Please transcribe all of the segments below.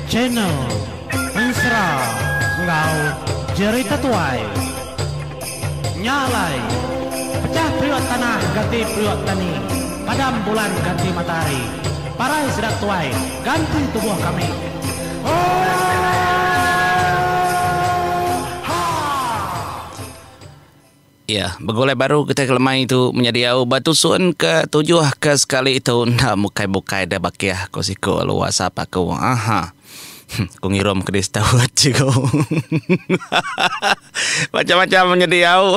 Channel Ensera enggau Jerita Tuai Nya alai Pecah periuk tanah ganti periuk tani Padam bulan ganti matahari Parai sida tuai ganti tubuh kami Ooh Haa. Iya, begulai baru getih ke lemai tu menyediau ba tusun ke tujuh ke sekali tu enda bukai-bukai deh bakih, ku siku alu wasap aku. Aha. Huh, ku ngirum ke di Steward chego. Macam-macam menyediau.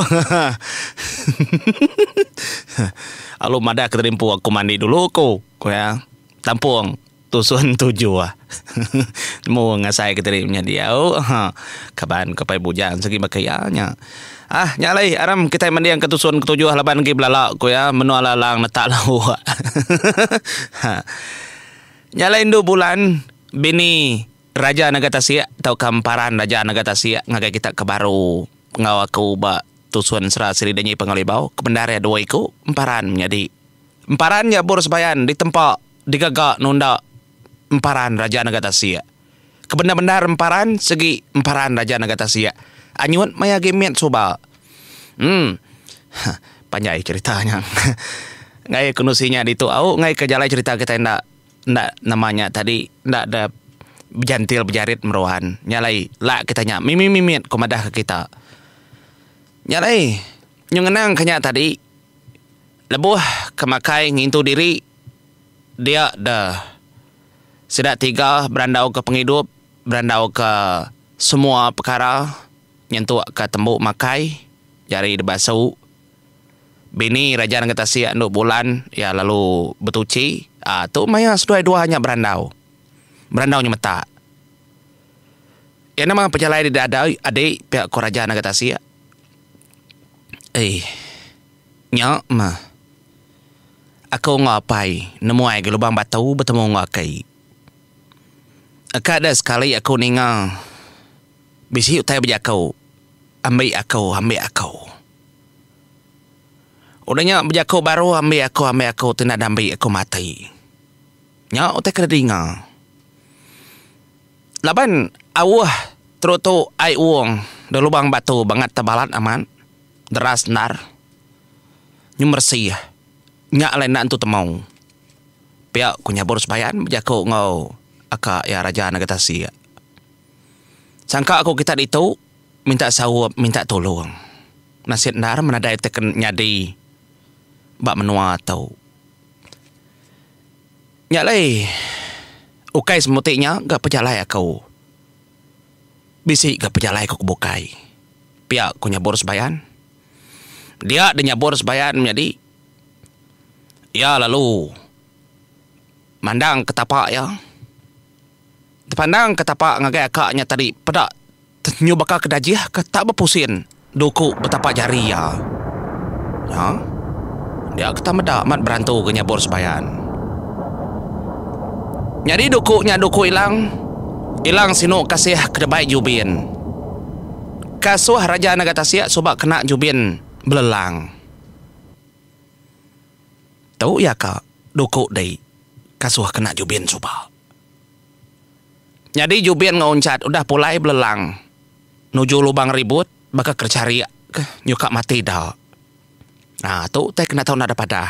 Alu madah ke tadi empu aku mandi dulu, ku iya. Tampung tusun tujur. Nemu ngasai ke diri menya diau. Ha. Kaban ke pai bujang sigi baka iya nya. Ah, nya alai aram kitai manding ke tusun ke tujur laban agi belala ku iya menua lalang netak lauk. ha. Nya alai indu bulan bini raja nega tasik tauka emparan raja nega tasik ngagai kita ke baru enggau aku ba tusun sera siri denyi Pengelibau ke bendar iya dua iku emparan menyadi. Emparan nya bur sebayan ditempa digaga nunda emparan Raja Naga Tasik. Kebendar-bendar emparan segi emparan Raja Naga Tasik anyut maya agi mit suba. Emm huh panjai cherita nya ngagai ke nusi nya ditu au ngagai ke jalai cherita kitai enda enda nama nya tadi enda da bejantil bejarit meruan nya alai lak kitai nya mimit-mimit ko madah ke kita. Nya alai nyengenang ke nya tadi. Lebuh ke makai ngintu diri, dia da. Sida tiga berandauka pengidup, berandauka semua pekara nyentukka tembu makai je ari dibasu. Bini Raja Nanga Tasik endo bulan iya lalu betuchi, aaa tu maya seduai dua nya berandau. Berandau nyemetak. Iya nama pejalai dida adi pia ko Raja Nanga Tasik. Eii. Nya mah. Aku enggau apai nemuai gelubang batu betemu enggau aki. Aka da sekali aku ninga bisi utai bejaku ambi aku ambi aku. Udah nya bejaku baru ambi aku ambi aku ti enda dambi aku mati. Nya utai ke dinga. Laban auh terutu ai uung da lubang batu bangat tebalat amat. Deras endar. Nyemeresi nya alai enda nentu temu. Pia ku Nyabur Sebayan bejaku enggau aka iya Raja Naga Tasik. Sangka ku kita ditu minta saup minta tulung. Nasit endar menadai ti ken nyadi ba menua tu. Nya alai ukai semuti nya ga pejalai aku. Bisi ga pejalai ku ke bukai pia ku nyabur sebayan. Dia deh nyabur sebayan menyadi iya lalu mandang ke tapa iya. Dipandang ke tapa ngagai aka iya tadi peda nyau baka ke dajih ka tak bepusin. Duku betapak jari iya. Nya. Dia ketam meda amat berantu ke nyabur sebayan. Nyadi duku nya duku Ilang. Ilang sinu kasih ke debai Jubin. Kasuh Raja Naga Tasik suba kena Jubin belelang. Tu iya ka duku dei kasuh kena Jubin suba. Nyadi Jubin enggau Unchat udah pulai belelang nuju lubang ribut baka kecharik ke nyuka mati da. Aa tu utai kena tau nadap padah.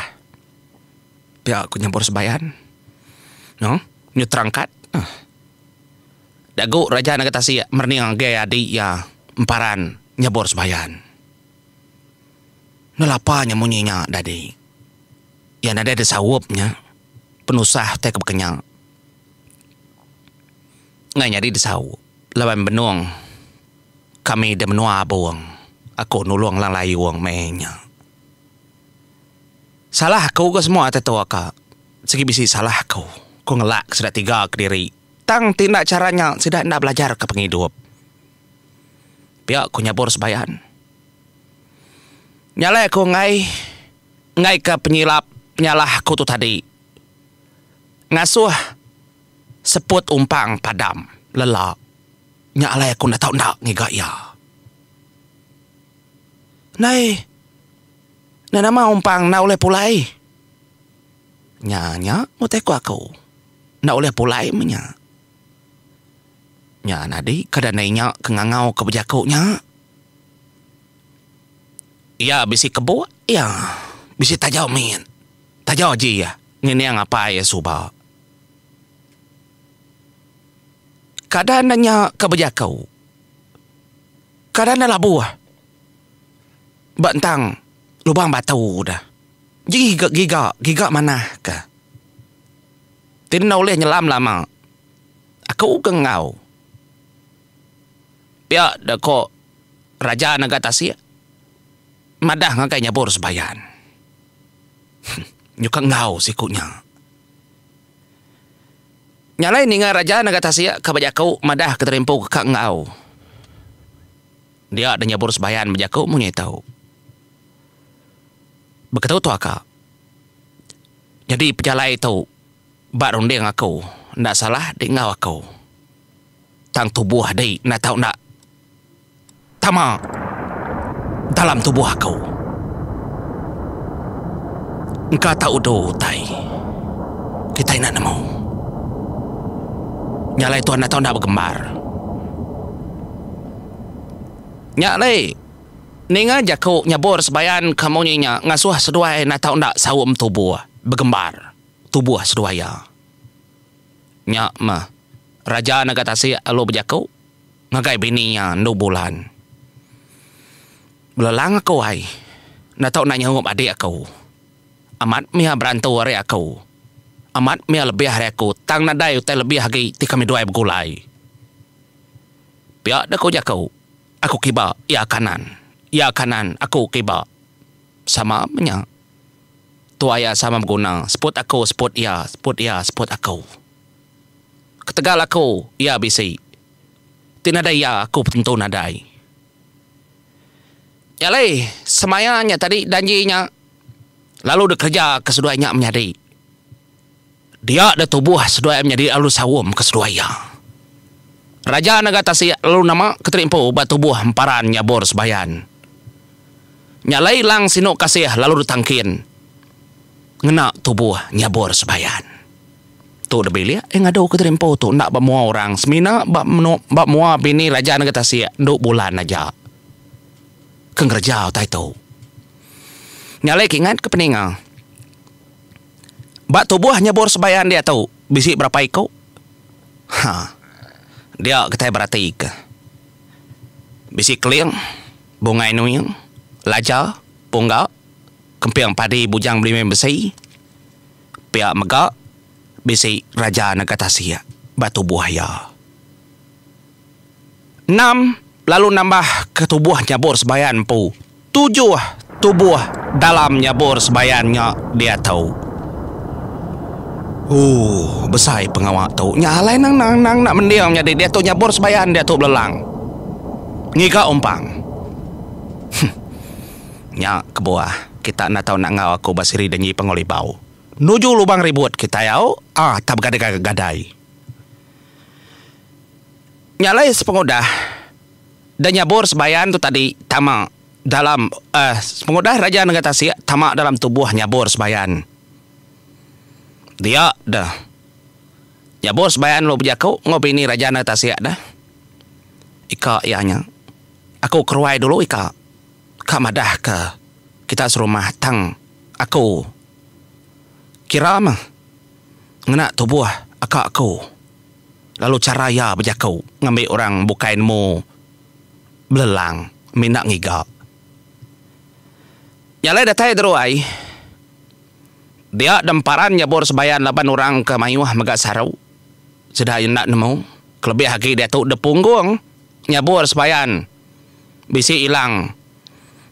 Pia ku nyebur sebayan. No nyu terangkat. Huh. Dagu Raja Naga Tasik merening anggai adi iya emparan nyebur sebayan. Nelapa nya munyi nya dadi. Iya nadai disaup nya. penusah tai ke bekenyang ngai nyadi disauk laban benung kami di menua Abong aku nulung Lang Layong meh nya. Salah aku ke semua ti tu ka sigi bisi salah aku ku ngelak sida tiga kediri tang ti enda chara nya sida enda belajar ka pengidup pia ku nyabur sebayan. Nya alai aku ngai ngaika penyilap penyalah ku tu tadi ngasuh seput umpang padam lela nya alai aku enda tau enda ngiga iya. Ndai enda nama umpang enda ulih pulai nya nya utai ku aku enda ulih pulai meh nya. Nya nyadi kada ndai nya ke ngangau ke bejaku nya. Iya bisi kebuk iya bisi tajau mit. Tajau ji iya ngining apai iya suba. Kada enda nya ke bejako. Kada enda labuh ba entang lubang batu deh. Ji ga giga, giga manah ke. Ti enda ulih nyelam lama. Aku ke enggau. Pia da ko Raja Naga Tasik madah ngagai nyabur sebayan. Nyuka enggau siku nya. Nya alai ninga Raja Naga Tasik ka bejaku madah ke terimpu ke ka enggau. Dia da nyabur sebayan bejaku mung nya itu. Beketu tua ka. Nyadi pejalai tu ba runding aku enda salah di enggau aku. Tang tubuh dei enda tau enda tama dalam tubuh aku. Engka tau udu utai kitai enda nemu. Nya alai tuan enda tau enda begembar. Nya alai ninga jaku nyebur sebayan ke munyi nya ngasuh seduai enda tau enda saum tubuh begembar tubuh seduai iya. Nya meh, raja nega tasik lalu bejaku ngagai bini iya endu bulan, Belelang aku ai, enda tau enda nyaup adik aku. Amat mih berantu ari aku. Amat mih lebih ari aku tang nadai utai lebih agi ti kami duai begulai. Pia deh ku jaku, aku kiba, iya kanan, iya kanan, aku kiba. Sama meh nya. Tu aya sama beguna. Seput aku, seput iya, seput iya, seput aku. Ketegal aku, iya bisi. Ti nadai iya, aku tentu nadai. Nya alai, semaya nya tadi danji nya lalu dikereja ke seduai nya menyadi. Dia deh tubuh seduai menyadi lalu saum ke seduai iya. Raja nengah tasik lalu nama ke teri empu ba tubuh emparan nyabur sebayan. Nya alai lang sinu kasih lalu ditangkin ngena tubuh nyabur sebayan. Tu deh bilik iya ngadu ke teri empu tu enda ba mua orang semina ba ba mua bini raja nengah tasik endu bulan aja ke ngereja utai tu. Nya alai ke ingat ke peninga. Ba tubuh nyebur sebayan diatu bisi berapa iku? Ha. Dia kitai beratika. Bisi keling, bungai nuing, laja, pungga, kemping padi bujang belimbing besi. Pia mega bisi raja nega tasik ba tubuh iya. Enam, lalu nambah ke tubuh nyabur sebayan empu. Tujuh, tubuh dalam nyabur sebayan nya diatu. Ooh, besai pengawa tu. Nya alai nang nang nang enda mending nyadi diatu nyabur sebayan diatu belelang. Ngiga umpang. Huh. Nya kebuah kita enda tau enda enggau aku ba siri denyi Pangolibau. Nuju Lubang Ribut kitai au, ah tap begadai-gadai. Nya alai sepengudah da nyabur sebayan tu tadi tama dalam uhh sepengudah raja nengah tasik tama dalam tubuh nyabur sebayan. Dia deh nyabur sebayan lalu bejaku enggau bini raja nengah tasik deh, Ika iya nya. Aku keruai dulu ika. Ka madah ke kita serumah tang aku kira meh. ngena tubuh aka aku lalu chara iya bejaku ngambi orang bukai nemu belelang mina ngiga. Nya alai datai Dero ai. Dia demparan nyebur sebayan laban orang ke mayuh mega saru sida iya enda nemu kelebih agi diatu depunggung nyebur sebayan bisi ilang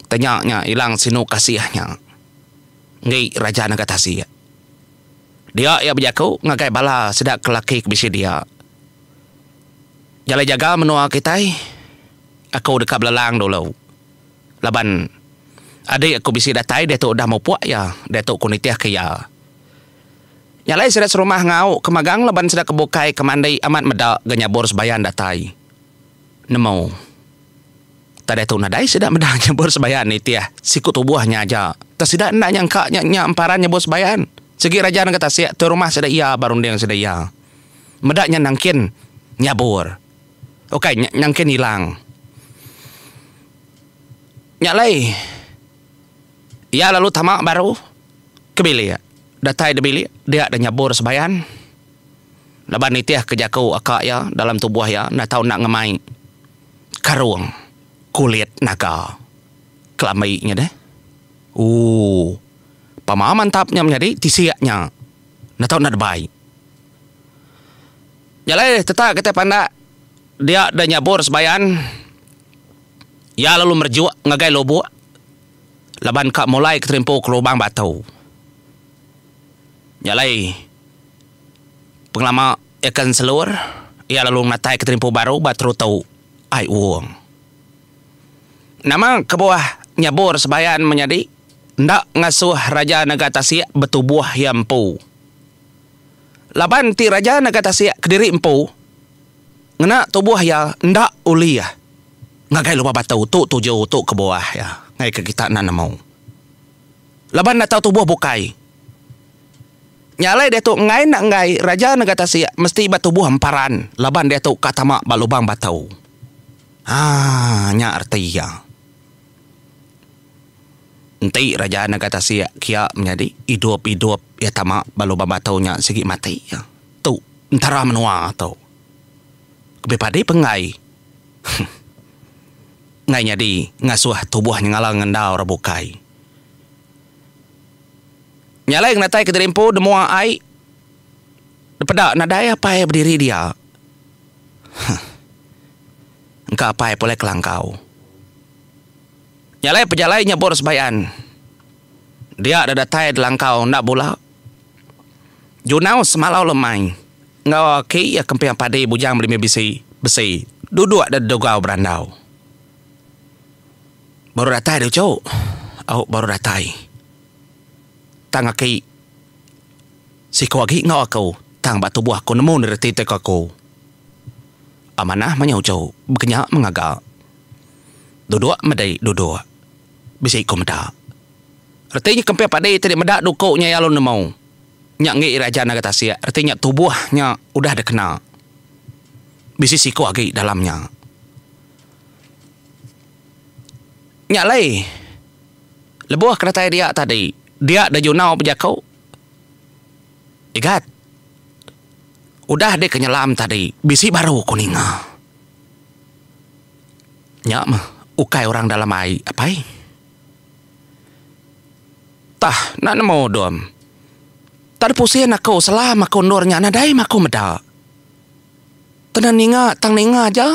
tenya nya ilang sinu kasih nya enggi Raja Nagatasi. Dia iya bejaku ngagai bala sida ke laki ke bisi dia, Jalai jaga menua kitai. Aku deka belelang dulu, laban adi aku bisi datai diatu udah mupuk iya, diatu ku nitihka iya. Nya alai sida serumah ngau ke magang laban sida ke bukai ke mandi amat meda ga nyabur sebayan datai. nemu tadai tu nadai sida meda nyebut sembayan nitih siku tubuh nya aja tang sida enda nyangka nya nya emparan nyebut sembayan sigi raja nengah tasik tu rumah sida iya ba runding sida iya meda nya nangkin nyabur ukai nya nangkin ilang nya alai iya lalu tama baru ke bilik datai da bilik dia da nyabur sembayan. Laban nitih ke jaku aka iya dalam tubuh iya enda tau enda ngemai karung kulit naga kelambi nya deh. Ooh. Pama mantap nya menyadi tisik nya enda tau enda debai. Nya alai tetap kitai pandak dia deh nyabur sebayan iya lalu merejuk ngagai lubuk laban ka mulai keterimpu ke lubang batu. Nya alai, pengelama Eken Selur iya lalu ngenataika terimpu baru ba Teruto Ai Uong. Nama kebuah nyebur sebayan menyadi enda ngasuh Raja Naga Tasik betubuh iya empu? Laban ti Raja Naga Tasik kediri empu ngena tubuh iya enda ulih ngagai lupa batu. Tu tuju, tu kebuah iya ngaika kita enda nemu. Laban enda tau tubuh bukai. Nya alai diatu enggai enda enggai raja nega tasik mesti ba tubuh emparan laban diatu ka tama ba lubang batu. Ha nya arti iya. Enti raja nega tasik kia menyadi idup idup iya tama ba lubang batu nya sigi mati iya. Tu entara menua tu. Lebih padi pun enggai enggai nyadi ngasuh tubuh nyengala ngendau orang bukai. Nyalai ngenatai kediri empu nemua ai dipeda nadai apai bediri dia. Huh. Engka apai pulai kelangkau. Nyalai pejalai nyebur sebayan. Dia da datai delangkau enda bula. Junau semalau lemai enggau aki iya kemping padi bujang belimi bisi besi duduk da degau berandau. Baru datai deh uchu. Au baru datai. Tang aki siku agi enggau aku tang ba tubuh aku nemu ni reti tiko aku. Amanah manya uchu bekenya mengaga. Duduk medi duduk. Bisi ku meda. Reti nya kempih padi ti dimeda duku nya iya lalu nemu. Nya enggi ira aja naga tasik reti nya tubuh nya udah dikena. Bisi siku agi dalam nya. Nya alai lebuh kedatai dia tadi dia da nyunau bejaku igat udah deka nyelam tadi bisi baru ku ninga nya mah ukai orang dalam ai apai tah enda nemu dom tang pusing aku selam aku endur nya nadai mah aku meda tang ninga tang ninga aja.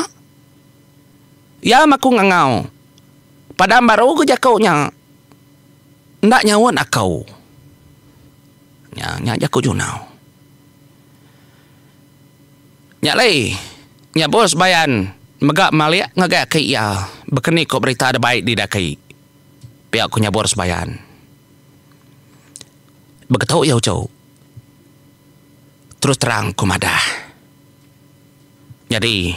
Iya maku ngangau. Padang baru ku jaku nya. Enda nyaut aku. Nya nya jaku Junau. Nya alai nya bos Bayan mega malik ngagai aki iya bekeni ko berita da bai di daki. Pia ku nya bos Bayan. Begetu iya uchu. Terus terang ku madah. Nyadi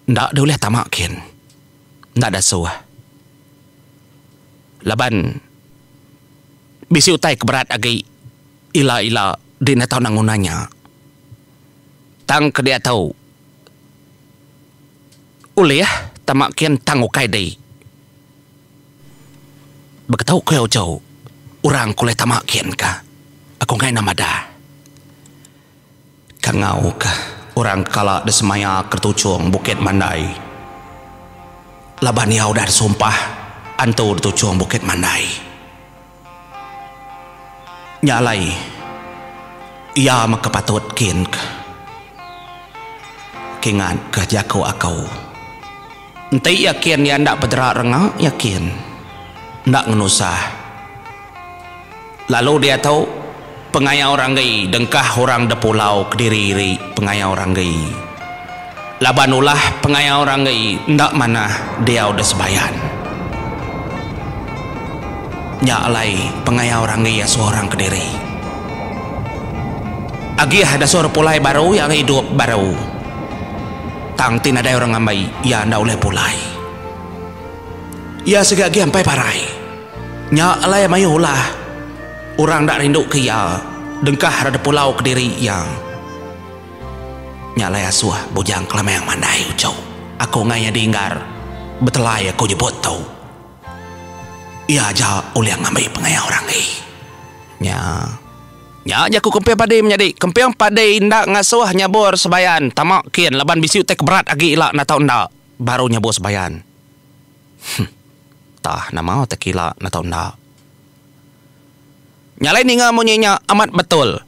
enda deh ulih tama kin enda dasuh laban bisi utai ke berat agi ila ila dina tau nang nguna nya tang ke diak tau ulih tama kin tang ukai deh beketu ku iya ujau orang ke ulih tama kin ka aku ngena madah. Kangau ka orang kala disemaya ketuchung Bukit Mandai. Laban iya udah disumpah antu dituchung Bukit Mandai. Nya alai iya mega patut kin ka. Kingat ka jaku aku. Enti yakin iya enda bedera renga, yakin. Enda ngenusah. Lalu diatu, pengayau ranggi dengkah orang depulau kediri iri pengayau ranggi. Laban ulah pengayau ranggi enda manah diau desebayan. Nya alai pengayau ranggi asoh orang kediri. Agih dasoh depulai baru iya idup baru. Tang ti nadai orang ngambai iya enda ulih pulai. Iya siga agi ampai parai. Nya alai mayuh ulah orang enda rinduka iya dengkah reda pulau kediri iya. Nya alai asuh Bujang Kelamang mandai uchu aku ngai nyadi enggar betelai aku nyebut tu. Iya aja ulih ngambi pengaya orang ai. Nya. Nya jaku kemping padi menyadi kemping padi enda ngasuh nyabur sebayan tama kin laban bisi utai ke berat agi ila natau enda baru nyabur sebayan. Huh tah nama utai ke ila natau enda. Nya alai ninga munyi nya amat betul.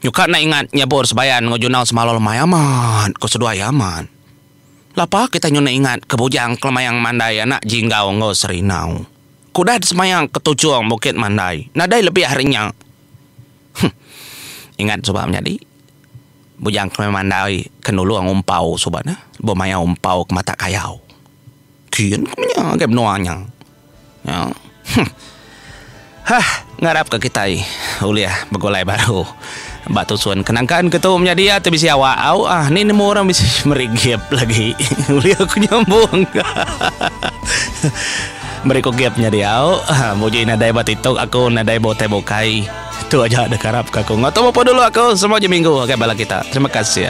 Nyuka enda ingat nyabur sebayan enggau junau semaul amai amat ko seduai amat. Lapa kitai nyun ingat ke bujang kelemayang mandai anak jinggau enggau serinau. Ku dah disemaya ke tuchung bukit mandai nadai lebih ari nya. Huh. Ingat suba menyadi. Bujang kami mandai ke nulung umpau suba ne lebuh mayau umpau ke matak kayau. Kin ku menya ngagai menua nya. Huh. Hah ngarap ka kitai ulih begulai baru. Ba tusun ke nangka enda tu menyadi ati bisi awak au ah ni nemu orang bisi meri gap lagi ulih aku nyambung ka meri ku gap nyadi au muji nadai ba tiktok aku nadai ba utai bukai tu aja da karap ka aku enggau tu mupun dulu aku semua ji minggu agai bala kita terima kasih.